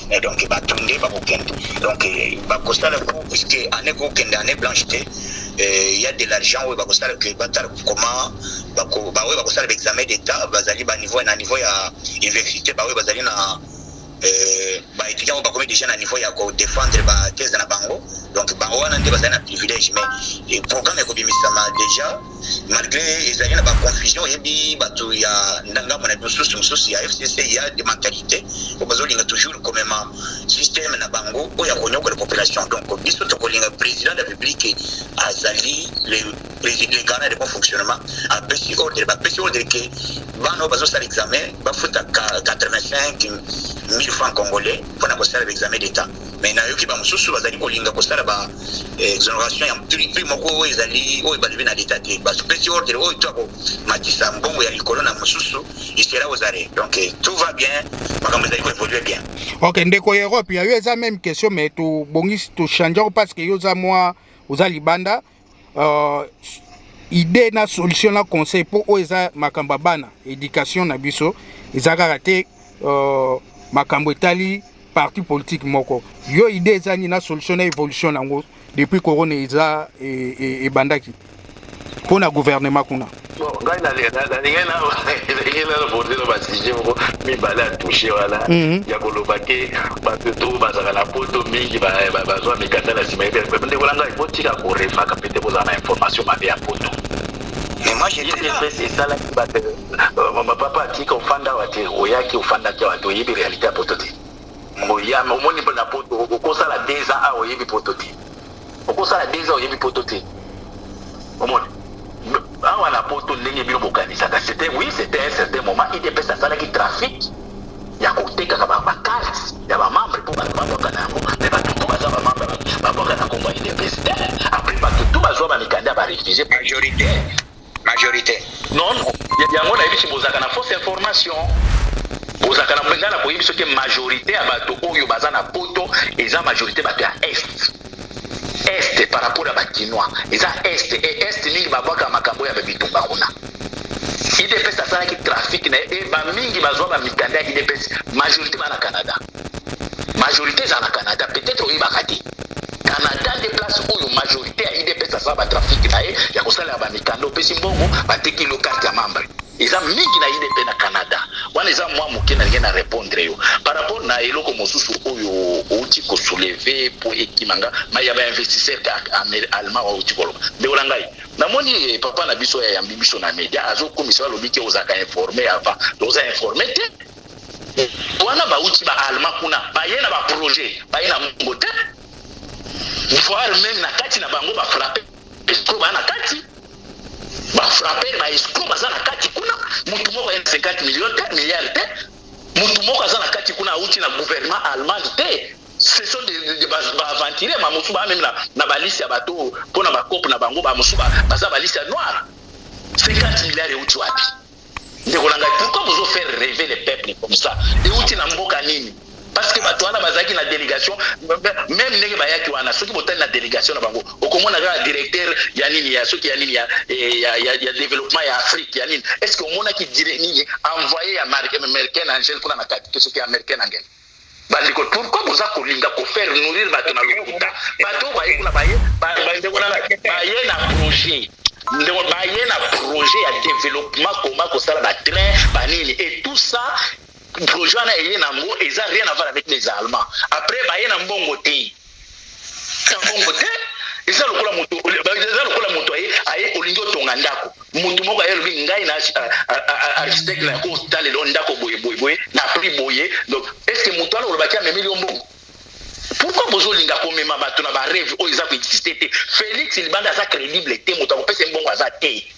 et donc bato nde bakokende donc bakosala po puisque année kokende année blanche te il y a de l'argent oyo bakosala que batala comment baoyo bakosala baexamen d'état bazali baniveau na niveau ya université baoyo bazali na Euh, baétudiant oyo bakomi déjà na niveau ya kodefendre bathèse na bango donc bango wana nde bazali na privilège mais programme ekobimisama déjà malgre ezali na baconfusion oyebi bato ya ndangambo na mosusu mosusu ya fcc ya de mentalite oyo bazolinga toujours komema systeme na bango oyo ya konyokola population donc biso tokolinga président de la république azali le président le garant de bon fonctionnement apesi ordre bapesi ordre ke bana oyo bazosala examen bafutaka 85 1000 francs congolais mpona kosala baexamen d'état mais nayoki bamosusu bazali kolinga kosala ba eh, exoneration ya prix moko oyo ezali oyo balobi na leta te basopesi ordre oyo to akomatisa mbongo ya likolo na mosusu isera ozare donc eh, tout va bien makambo ezali koévolue bien ok ndeko ya europe ya yo eza meme question mais tobongisi tochangeako parce que yo oza mwa oza libanda uh, idee na solution na conseil mpo oyo eza makambo ya bana éducation na biso eza kaka te uh, makambo etali parti politique moko yo idée eza nini na solution na évolution yango depuis corona eza e, e, ebandaki mpo na gouvernement kuna Bon, ngai nalingaki nalingaki nano bondela ba sujet moko mibale ya touche wana mhm. ya koloba ke bato to bazalaka na poto mingi bazwa mikanda na nsima ete ndeko na ngai botika korefaka mpe te kozala na information mabe ya poto Mais moi j'étais là. C'est ça là qui battait. Mon papa dit qu'on fanda wate, oya ki ofanda ki wate, oyebi réalité à pototi. Moya, omoni mpo na poto, okosala 2 ans a oyebi pototi. okosala deux ans oyebi poto te omoni awa na poto ndenge bino bokanisaka c'était oui c'était un certain moment idps asalaki trafic ya kotekaka bacarte ya bamembre mpo bato babwaka na yango me bato tu baza bamembre babwaka na nkombo ya idps te apres bato tu bazwa bamikanda barefusie majorité majorite non yango nayebisi bozalaka na fausse information bozalaka na mpenza na koyebi soki majorité ya bato oyo baza na poto eza majorité bato ya est est par rapport ya bakinois eza est e est mingi babwaka makambo ya babitumba kuna idps asalaki trafic na ye e bamingi bazwa bamikanda ya idps majorité bana canada majorite ezala na canada peut-être oyebaka te canada nde place oyo majorité ya idps asala batrafic na ye ya kosalela bamikanda opesi mbongo bateki lo karte ya membre eza mingi na idp na canada wana eza mwa moke nalingi na repondre yo par rapport na eloko mosusu oyo outi kosouleve mpo ekima nga ma ya bainvestisseur allemand outi koloba ndeko na ngai namoni eh, papa na biso yayambi biso na media azokomisa alobi te ozalaka informe avant oza informe te wana bauti ba allemand kuna baye na ba projet baye na mongo te voire meme na kati na bango ba frappe escro baa na kati ba frappe ba escro baza na kati kuna motu moko aye na 50 million te milliard te motu moko aza na kati kuna auti na gouvernement allemand te ce sont des, des, des baaventurier ba bamosusu baa meme na, na balisi ya bato mpo na bakope na bango bamosusu baza balisi ya noire 50 milliard euti wapi Ndeko na ngai, pourquoi bozo faire rêver les peuples comme ça? Euti na mboka nini? Parce que bato wana bazalaki na delegation, meme ndenge bayaki wana, soki botali na delegation na bango, okomona kaka directeur ya nini ya soki ya nini ya, eh, ya, ya, ya développement ya Afrique ya nini. Est-ce que omonaki dire nini envoyé ya américain Angel kuna na kati, que soki américain Angel? Ba ndeko pourquoi boza kolinga ko faire nourrir bato na lokuta? Bato oyo baye kuna baye ba ndeko na baye na projet ndeko baye na projet ya developpement koma kosala ba train ba nini et tout ça projet wana eye nango eza rien avoir avec les allemands après baye na mbongo te kabongo te eza lokola moto eza lokola moto aye aye olingi otonga ndako moto moko aye alobi ngai na architecte na yako otalela o ndako boye boye boye na prix boye donc est ce que moto wana olobaki amemeli yo mbongo pourquoi bozolinga komema bato na bareve oyo eza koexiste te félix libanda aza crédible te moto akopesa ye mbongo aza te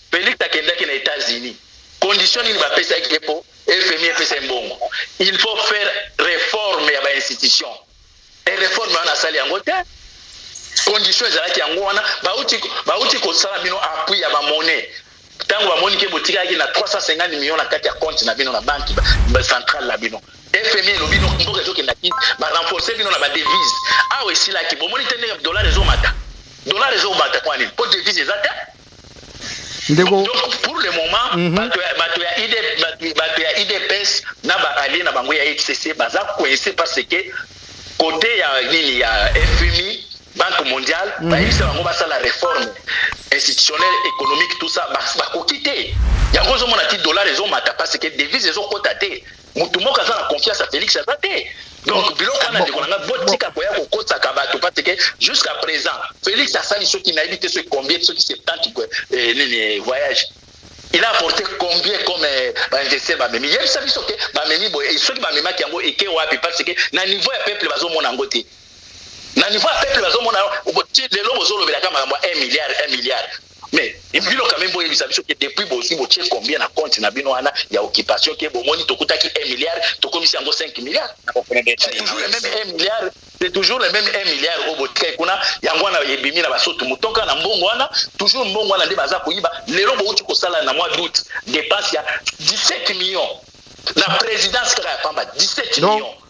Felix akendaki na etats unis condition nini ba pesaki ye po FMI epesa ye mbongo il faut faire reforme ya ba institution et reforme wana asali yango te condition ezalaki yango wana bauti bauti kosala bino appui ya ba monnaie tango bamoni ke botikaki na 350 millions na kati ya compte na bino na banque centrale na bino FMI elobi no mboka ezokenda ki ba renforcer bino na ba devise awa esilaki bomoni te ndenge dollar ezomata dollar ezomata kwa nini po devise eza te ndeko donc pour le moment mm -hmm. bato ya bato ya ID bato ya IDPS na ba alliés na bango ya FCC baza coincé parce que côté ya nini ya FMI banque mondiale mm -hmm. bayebisa bango basala réforme institutionnelle économique tout ça bakoki te yango ozomona ti dollar ezomata parce que devise ezokota te motu moko aza na confiance ya felix aza te donc biloko wana ndeko na ngai botika koya kokotaka bato parce que jusqu'à présent felix asali soki nayebi te soki combien soki 70 eh, nini eh, voyage il a apporté combien comme eh, bainvestir bamemi yebisa biso te bamemi boye soki bamemaki yango eke wapi parce que na niveau ya peuple bazomona yango te na niveau ya peuple bazomona lelo bozolobelaka makambo ya 1 milliard 1 milliard mais bino quand même boyebisa biso ke depuis bozwi botie combien na compte na bino wana ya occupation ke bomoni tokutaki 1 milliard tokomisi yango 5 milliard c'est toujours le même 1 milliard c'est toujours le même 1 milliard oyo botikaki kuna yango wana ebimi na basoto motoka na mbongo wana toujours mbongo wana nde baza koyiba lelo bouti kosala na mois d'août dépense ya 17 millions na présidence kaka ya pamba 17 millions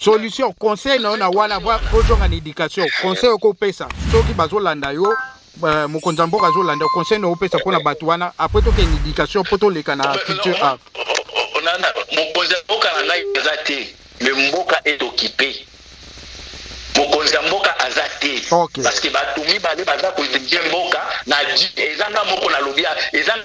solution conseil na yo na wana kozonga na education conseil okopesa soki bazolanda yo euh, mokonzi ya mboka azolanda conseil na opesa mpo na bato wana apres tokende education mpo toleka na culture art mokonzi ya mboka na ngai aza te me mboka etokipe mokonzi ya mboka aza te okay. parce que bato mibale baza kodirige mboka na ezanga moko nalobi ezanga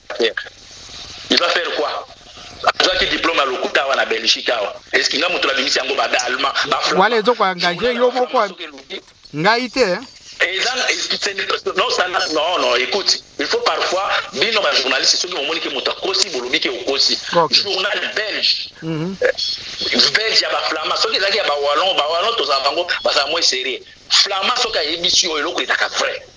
il va faire quoi azwaki diplome ya lokuta awa na belgique awa eske nga moto nabimisi yango ba allemand wala ezoko engage yo moko ngai te hein? eza non non non écoute il faut parfois bino ba journaliste soki bomoni ke moto akosi bolobi ke okosi journal belge mhm. euh, belge ya baflama soki ezalaki ya bawallon bawallon tozala bango bazala moi serie flama soki ayebisi yo eloko ezaka vrai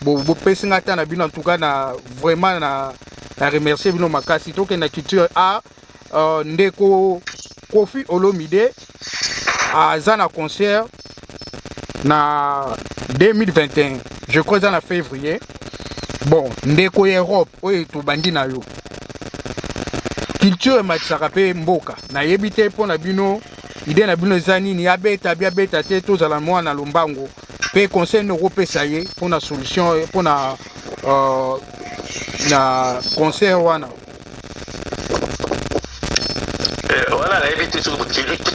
bopesi ngai ata na bino antuka na vraiment na na remercie bino makasi tokenda culture a uh, ndeko kofi olomide aza na concert na 2021 je crois eza na février bon ndeko ya europe oyo tobandi na yo culture ematisaka mpe mboka nayebi te mpo na bino ide na bino eza nini abeta biabeta te tozala mwana lombango mpe conseil nini okopesa ye mpo na solution mpo na uh, na conseil wana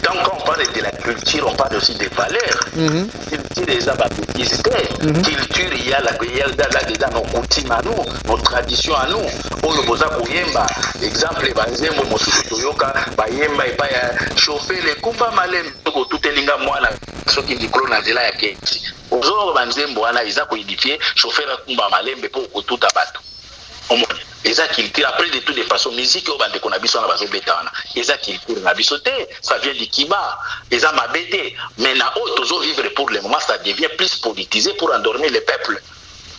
quand on parle de la culture, on parle aussi des valeurs. Mm -hmm. Culture est la bêtise. Mm -hmm. Culture, il y a la guerre, il y a nos coutumes à nous, nos traditions à nous. On le bosa koyemba. Exemple, banzembo mosusu toyoka, bayemba et pas chauffer les kumba malem. Tout elinga mwana soki likolo na nzela ya keti ozoloba ba nzembo wana eza ko edifie chauffeur akumba malembe po okotuta bato omoni eza culture après de tout de façon musique oyo bandeko na biso wana bazobeta wana eza culture na biso te ça vient du kiba eza mabe te mais na oyo tozo vivre pour le moment ça devient plus politisé pour endormir le peuple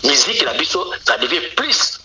musique na biso ça devient plus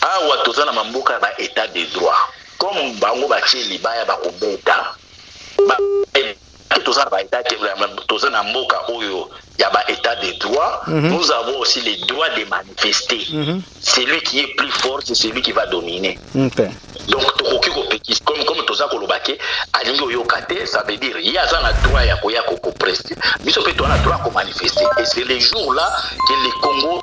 Awa toza na ma mboka ya ba etat de droit comme bango batie libaya bakobeta ba toza na ba etat toza na mboka oyo ya ba etat de droit mm -hmm. nous avons aussi les droits de manifester mm -hmm. celui qui est plus fort c'est celui qui va dominer okay. donc tokoki kopekisa comme, comme toza koloba ke alingi oyoka te ça veut dire ye aza na droit ya koya kokopreste biso mpe toza na droit ya komanifeste et c'est le jour là que le congo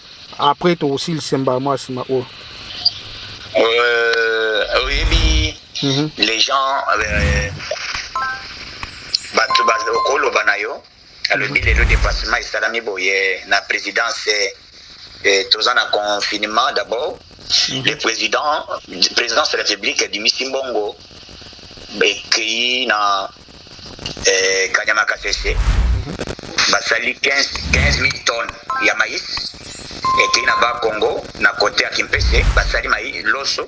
Après tokosilisa mbala mwa nsima oyo. Euh, oyebi mhm. les gens euh, bato okoloba na yo alobi mhm. lelo dépassement esalami boye na présidence euh, toza na confinement d'abord mhm. le président présidence de la république dimisi mbongo ekeyi na eh, kanyama kasese basali 15000 tonnes ya mais ekei na ba congo na kote ya kimpese basali mai loso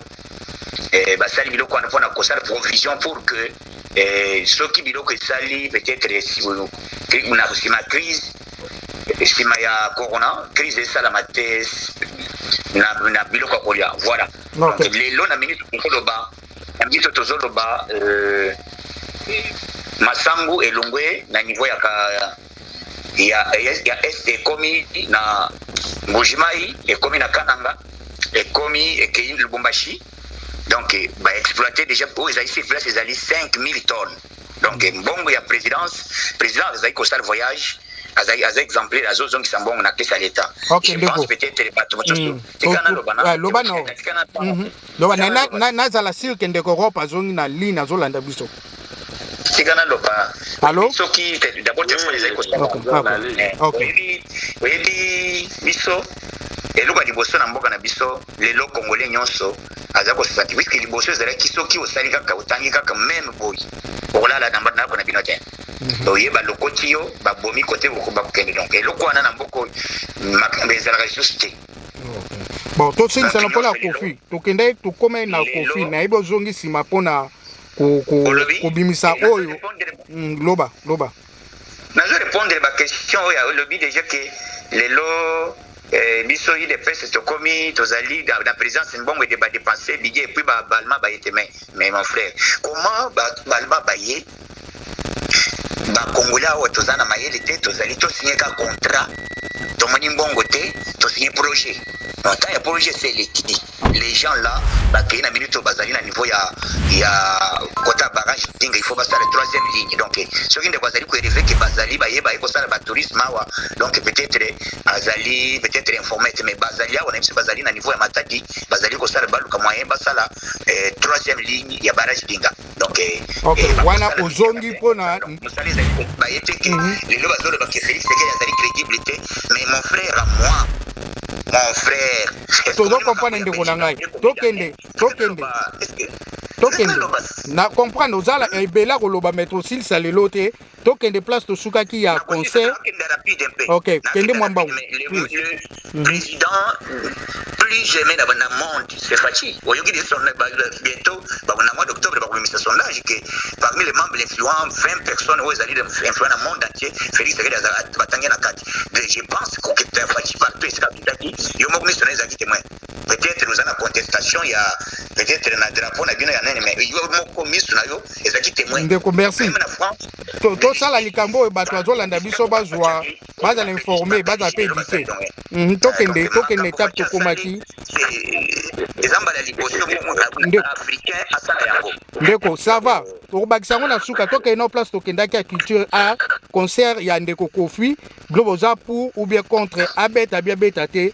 eh, basali biloko wana mpona kosala provision pour que eh, soki biloko esali peut-être na nsima crise nsima ya corona crise esalama te na, na biloko ya kolia voilà okay. lelo na minute okoloba Biso tozoloba euh, masangu elongwe na niveau ya, ka, ya, ya, ya est ekomi na mbujimai ekomi na kananga ekomi ekei lubumbashi donc baexploite déjà oyo ezali sur place ezali 5000 tonnes donc mbongo ya présidence président azali kosala voyage azali aza exemplaire azozongisa mbongo na pesa leta okay, je pense peut-être bato mosusu mm. tika naloba na loba no tika na mhm. loba na, na, na, nazala sur ke ndeko rope azongi na ligne azolanda biso tika naloba soki dabord telefone ezali kosaoyebi eh, biso eloko ya liboso na mboka na biso lelo kongole nyonso aza kosati wiske liboso ezalaki soki osali kaka otangi kaka meme boyi okolala na ndako na bino te mhm. oye balokoti yo babomi kote bakokende donc eloko wana na mboka oyo makambo ezalaka lisusu te bon tosengisana mpo na kofi tokendaki tokomai na kofi nayebi ozongi nsima mpo na kobimisa oyo mm, loba loba nazo répondre baquestion oyo olobi déjà ke lelo eh, biso udps tokomi tozali na présence mbongo ete badepense bidye epuis baalma baye te mais mon frère comment baalma baye ba congolais awa toza na mayele te tozali to signe ka contrat tomoni mbongo te to signe projet na temps ya projet se eleki les gens là bakei na minute oyo bazali na niveau ya ya kota barrage dinga il faut basala troisième ligne donc soki ndeko azali koeleve ke bazali baye baye kosala batourisme awa donc peut-être azali peut-être informé te mais bazali awa na biso bazali na niveau ya matadi bazali kosala baluka moyen basala eh, troisième ligne ya barrage dinga donc eh, okay. eh, wana ozongi mpo na mosala ezali kobaye te ke mhm. lelo bazoloba ke felix sekele azali crédible te mais mon frère à moi mon frère tozo comprendre ndeko na ngai tokende tokende tokende na comprendre ozala ebela koloba maître osilisa lelo te To kende place to sukaki ya concert. Ok, kende mwa mbangu. Mhm. Président plus jamais na bana monde c'est Fatshi. Oyoki de son bientôt ba na mois d'octobre ba komisa sondage que parmi les membres influents 20 personnes oyo ezali influents na monde entier Félix Tshisekedi azala batangi na kati. Je pense que Fatshi par pesa kitaki yo moko miso na ezali témoin. peut-être oza na contestation ya peut-être na drapeau na bino ya nene mais yo moko misu na yo ezalaki témoin ndeko merci tosala likambo oyo bato bazolanda biso bazwa bazala informe bazala mpe édite mhm, tokende tokende etape tokomaki eza mbala liboso africain asala yango ndeko sava tokobakisa yango na suka tokende na place tokendaki ya culture a concert ya ndeko kofi bino boza pour ou bien contre abeta bia beta te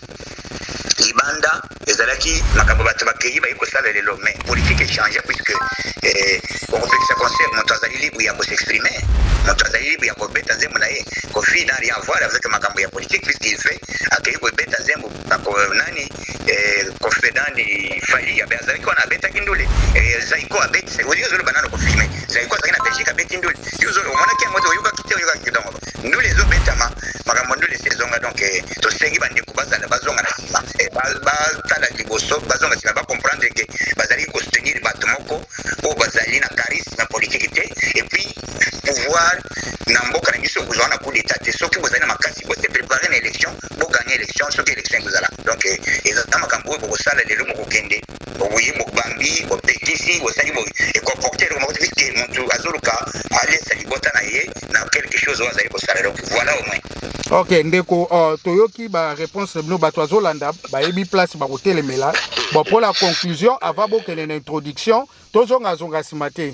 libanda ezalaki makambo bato bakeyi bayi kosala lelo mais politique echange puisque eh, okopekisa concert moto azali libre ya kosexprime moto azali libre ya kobeta nzembo na ye kofi na rien avoir avec makambo ya politique puisqu'il fait akeyi kobeta nzembo nani eh, kofi nani fali yabe azalaki wana abetaki ndule eh, zaiko abeti oyo ozoloba nano kofi me zaiko azalaki na belgique abeti ndule yo omonaki yango te oyokaki te oyokaki donc ndule ezo betama makambo ya ndule esi ezonga donc eh, tosengi bandeko bazala bazonga na nsima eh, batala liboso bazonga nsima bacomprendre ke bazali kosoutenir bato moko oyo bazali na charisme ya politiki te epuis pouvoir na mboka na biso ekozwa na coup d'état te soki bozali na makasi bote prépare na élection boganye élection soki élection ekozala donc eh, ezala makambo oyo bokosala lelo mokokende Oui, Bambi, Betisi, Bosali, et comporter le monde vite que Montou Azoluka a laissé les bottes à naïe dans quelque chose où Azali Bossala. Donc voilà au moins. Ok, Ndeko, euh, Toyoki, ba réponse de Bato Azolanda, ba Ebi Place, ba Hotel Mela. Bon, pour la conclusion, avant que l'introduction, Tozonga Zonga Simate.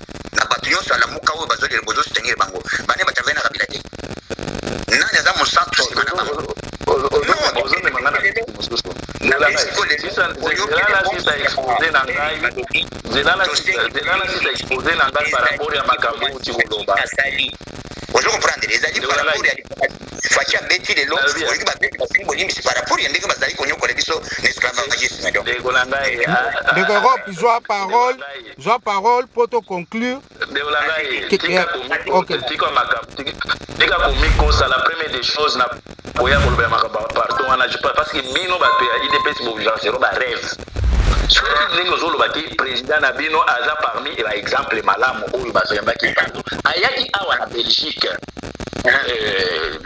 na bato nyonso ya lamuka oyo bazokende bozosengele bango bane bato avai na kabila te nani aza mosantu nsima na bango expose na ngai paraport ya makambo outi koloba ozo comprendre ezali paraport ya faci abeti lelo oyoki babeti basengi bolimbisi paraport ya ndenge bazali konyokola biso na esclavagisme ndeko na ngai ndeko europe zwa parole zwa parole mpo to conclure ndeko na ngai tika komikosa la première des choses na boya koloba ya makambo ya pardon wana parce que bino bato ya idps bovivaka selo barêve soki ndenge ozoloba te président na bino aza parmi baexemple malamu oyo bazoyambaki bato ayaki awa na belgique euh,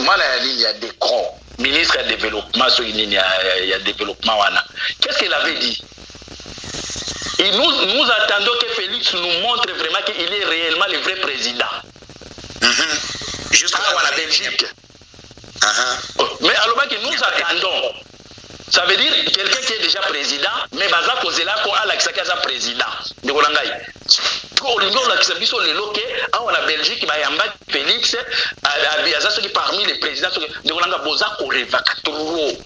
mwana ya nini ya decron ministre ya développement soki nini ya développement wana qu'est ce qu'il avait dit Et nous, nous attendons que Félix nous montre vraiment qu'il est réellement le vrai président. Mm -hmm. Juste ah, à la Belgique. Uh -huh. Mais alors que nous attendons. Ça veut dire quelqu'un qui est déjà président, mais baza kozela ko alakisa ki aza président. Ndeko na ngai. Ko olingi olakisa biso lelo ke awa na Belgique bayamba Félix aza soki parmi les présidents soki ndeko na ngai boza korevaka trop.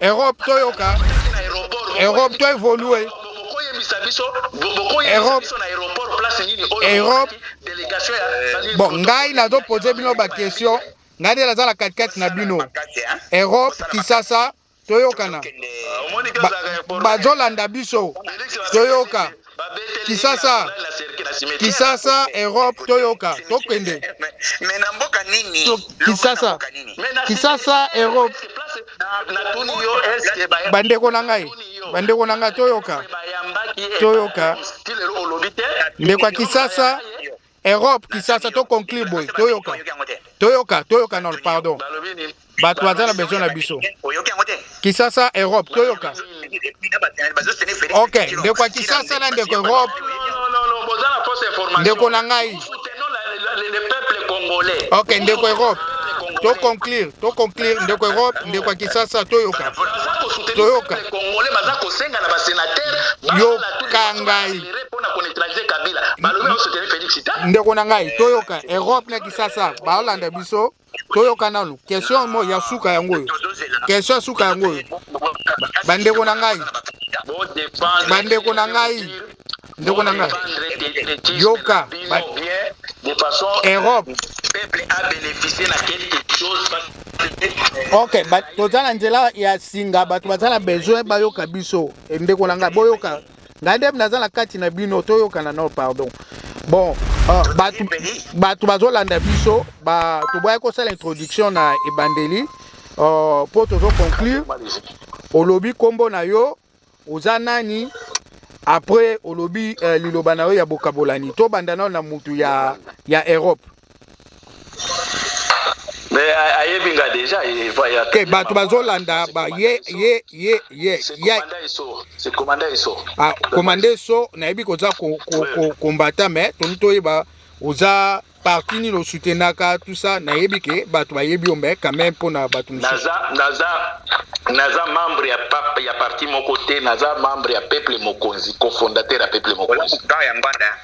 Europe toyoka. Europe to evolue. Europe Europe eh, bon ngai nazo poser bino ba question ngai nde naza na katikati na bino Europe Kisasa toyokana bazolanda biso toyoka kisasa kisasa europe toyoka tokende kisasa kisasa europe bandeko na ngai bandeko na ngai toyoka toyoka ndeko ya kisasa Europe Kisasa to conclure boy toyoka toyoka toyoka non pardon bato baza na besoin na biso Kisasa Europe toyoka ok ndeko ya Kisasa na ndeko Europe ndeko na ngai ok ndeko Europe to conclure to conclure ndeko Europe ndeko ya Kisasa toyoka toyoka yoka ngai ndeko na ngai toyoka europe na kisasa baolanda biso toyoka nanu question mo ya suka yango oyo question ya suka yango oyo bandeko na ngai bandeko na ngai ndeko na ngai yoka europe ok toza na nzela ya singa bato baza na besoin bayoka biso eh, ndeko na ngai boyoka ngai nde naza na kati na bino toyokana no pardon bon ah, bato bato bazolanda biso ba toboyaki kosala introduction na ebandeli ah, mpo tozo conclure olobi nkombo na yo oza nani après olobi eh, liloba na yo ya bokabolani tobanda nao na motu ya, ya europe te bato bazolanda ye ye ye ye komanda eso nayebi koza kombata me toni toyeba oza parti nini osutenaka tout ça nayebi ke bato bayebi yo me quand même mpona bato mosusu naza membre ya, ya parti moko te naza membre ya peuple mokonzi cofondateur ya peuple mokonzi ya mbanda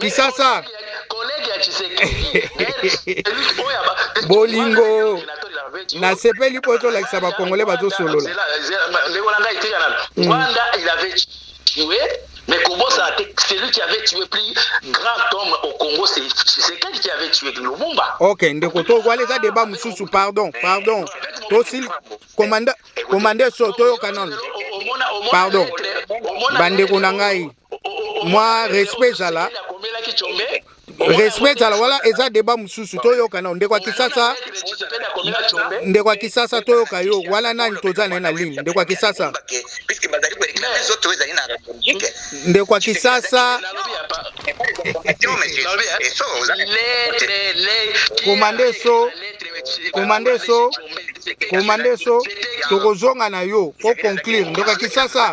kisasa bolingo nasepeli mpo ezolakisa bakongole bazosolola Mais comment ça C'est lui qui avait tué plus grand homme au Congo, c'est Tshisekedi qui avait tué Lumumba. Ok, ndeko to wale za débat mususu, pardon, pardon. To sil commandant commandant so to yo canon. Pardon. Bande ko na ngai. mwa respect ezala respect ezala wala eza deba mosusu toyoka nao ndeko ya kisasa ndeko ya kisasa toyoka yo wala nani toza naye na ligne ndeko ya kisasa ndeko ya kisasa komande so komande so komande so tokozonga na yo po conclure ndeko ya kisasa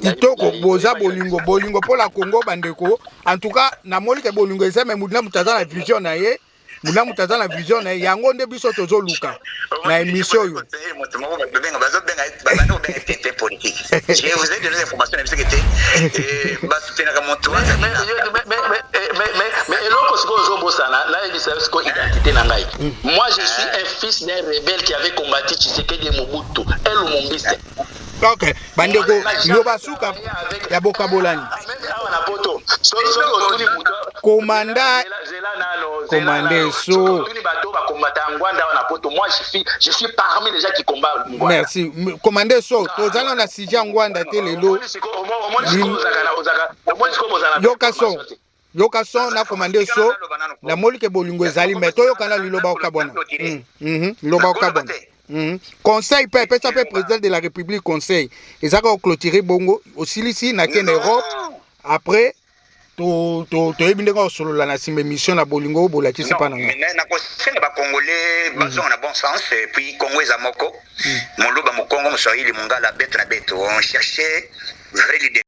kitoko boza bolingo bolingo mpo na kongo bandeko en tout cas namoni ke bolingo eza me motu na moto aza na vision na ye motu na moto aza na vision na ye yango nde biso tozoluka na émission oyo eloko sikoyo ozobosana nayebisa yo sikoyo identité na ngai moi je suis un fils d'un rebelle qui avait combattu tshisekedi et mobutu elumumbiste ok bandeko loba suka ya bokabolani komanda komande so merci komande so tozala na sija ngwanda te lelo yoka son yoka son na commande so na moli ke bolingo ezali mais toyoka na liloba okabwana mm, mhm, liloba okabwana mhm. conseil mpe apesa mpe président de la république conseil ezaka oclotire bongo osilisi na kende europe après toyebi ndenge osolola na nsima émission na bolingo bolakisi mpa nangakosenga bacongolais bazonga na bon sens puis congo eza moko moluba mokongo moswahili mongala bete na bete on cherche vrai leader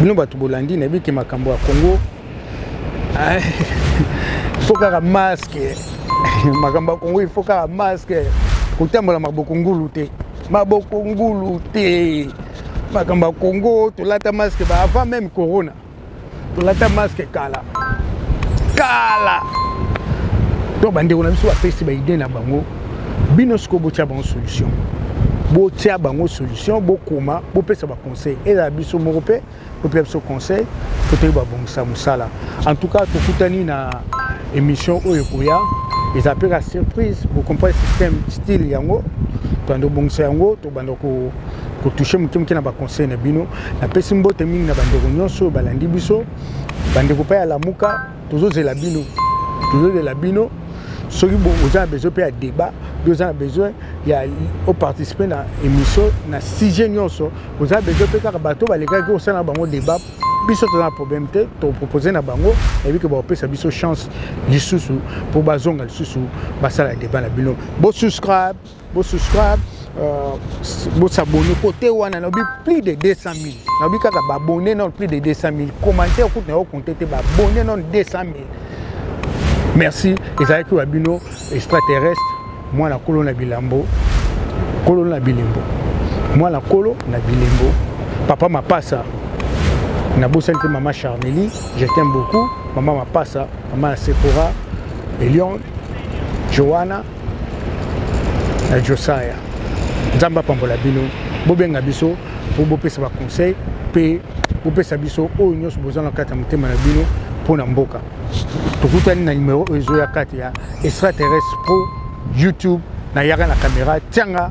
bino bato bolandi nayebi ke makambo ya congo ifo kaka maske makambo ya congo ifo kaka maske kotambola maboko ngulu te maboko ngulu te makambo ya congo tolata masque ba avant même corona tolata masque kala kala donc bandeko na biso bapesi baide na bango bino sikoyo botya bango solution botya bango solution bokoma bopesa baconseil ezala biso moko mpe opesa biso conseil po toyeba babongisa mosala en tout cas tokutani na émission oyo ekoya eza mpe ka surprise bocomprendre système style yango tobanda kobongisa yango tobanda kotouche moke moke na baconseil na bino napesi mbote mingi na bandeko nyonso oyo balandi biso bandeko mpe ya lamuka tozozela bino tozozela bino soki oza na besoin mpe ya débat mpe oza na besoin ya oparticipe na émission na sujet nyonso oza na besoin mpe kaka bato balekaki osala na bango débat biso toza na problème te topropose na bango eyebi ke bakopesa biso chance lisusu mpo bazonga lisusu basala débat na bino bosuscribe Bo subscribe, euh, bo s'abonner. Côté wana, nabi plus de 200 000. Nabi kaka ba abonner non plus de 200 000. Commentaire kutu na yo compter te ba abonner non 200 000. Merci. Ezalaki wa bino extraterrestre, moi na kolo na bilambo, kolo na bilembo. Moi na kolo na bilembo. Papa Mapasa, nabosani te mama Charmeli, je t'aime beaucoup. Mama Mapasa, mama Sephora, Elion, Joanna. na josaya nzambe apambola bino bobenga biso mpo bopesa baconseil mpe bopesa biso oyo nyonso boza na kati ya motema na bino mpo na mboka tokutani na nimero oyo ezoya kati ya extraterrestre pro youtube nayaka na kamera tianga